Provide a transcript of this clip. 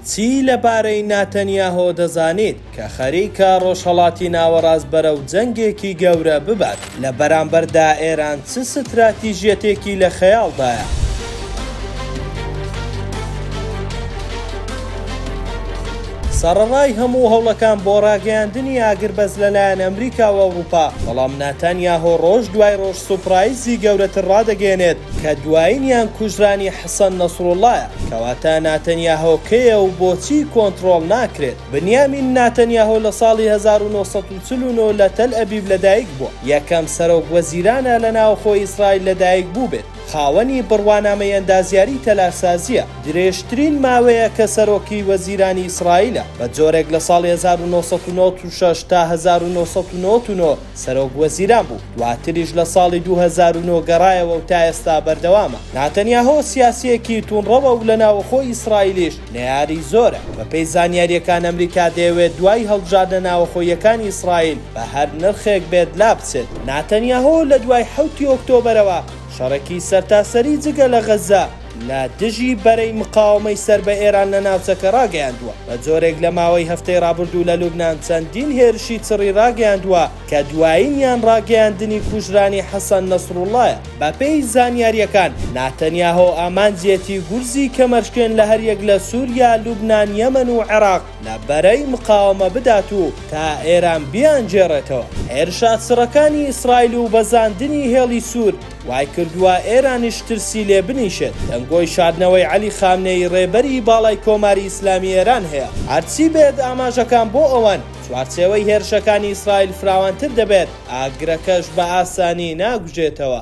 چی لەبارەی ناتەنیاهۆ دەزانیت کە خەریکە ڕۆژهەڵاتی ناوەڕاست بەرەو جەنگێکی گەورە ببات؟ لە بەرامبەردا ئێران چ ستراتیژیەتێکی لە خەیاڵدایە؟ سەڕەڕای هەموو هەوڵەکان بۆ ڕاگەیاندنی ئاگربەست لەلایەن ئەمریکا و ئەوروپا، بەڵام ناتانیاهۆ ڕۆژ دوای ڕۆژ سوپڕایزی گەورەتر ڕادەگەیەنێت کە دوایینیان کوژرانی حەسەن نەسروڵڵایە، کەواتە ناتەنیاهۆ کێیە و بۆچی کۆنتڕۆڵ ناکرێت؟ بنیامین ناتەنیاهۆ لە ساڵی هەزار و نۆ سەد و چل و نۆ لە تەلئەبیب لەدایک بووە، یەکەم سەرۆک وەزیرانە لە ناوخۆی ئیسرائیل لەدایک بووبێت، خاوەنی بڕوانامەی ئەندازیاری تەلارسازییە، درێژترین ماوەیە کە سەرۆکی وەزیرانی ئیسرائیلە، بە جۆرێک لە ساڵی هەزار و نۆ سەد و نەوەد و شەش تا هەزار و نۆ سەد و نەوەد و نۆ، سەرۆک وەزیران بوو، دواتریش لە ساڵی دوو هەزار و نۆ گەڕایەوە و تا ئێستا بەردەوامە. ناتەنیاهۆ سیاسییەکی تووندڕەوە و لە ناوەخۆی ئیسرائیلیش نەیاری زۆرە. بەپێی زانیارییەکان ئەمریکا دەیەوێت دوای هەڵبژاردنە ناوەخۆییەکانی ئیسرائیل بە هەر نرخێک بێت لابچێت. ناتەنیاهۆ لە دوای حەوتی ئۆکتۆبەرەوە شەڕێکی سەرتاسەری جگە لە غەززە، لە دژی بەرەی مقاوەمەی سەر بە ئێران لە ناوچەکە ڕاگەیاندووە. بە جۆرێک لە ماوەی هەفتەی ڕابردوو لە لوبنان چەندین هێرشی چڕی ڕاگەیاندووە کە دوایینیان ڕاگەیاندنی کوژرانی حەسەن نەسروڵڵایە. بەپێی زانیارییەکان، ناتەنیاهۆ ئامانجیەتی گورزی کەمەرشکێن لە هەریەک لە سوریا، لوبنان، یەمەن و عێراق لە بەرەی مقاوەمە بدات و تا ئێران بیانگێڕێتەوە. هێرشە چڕەکانی ئیسرائیل و بەزاندنی هێڵی سوور، وای کردووە ئێرانیش ترسی لێ بنیشێت. دەنگۆی شاردنەوەی عەلی خامنەیی ڕێبەری باڵای کۆماری ئیسلامی ئێران هەیە. هەرچی بێت ئاماژەکان بۆ ئەوەن چوارچێوەی هێرشەکانی ئیسرائیل فراوانتر دەبێت، ئاگرەکەش بە ئاسانی ناگوژێتەوە.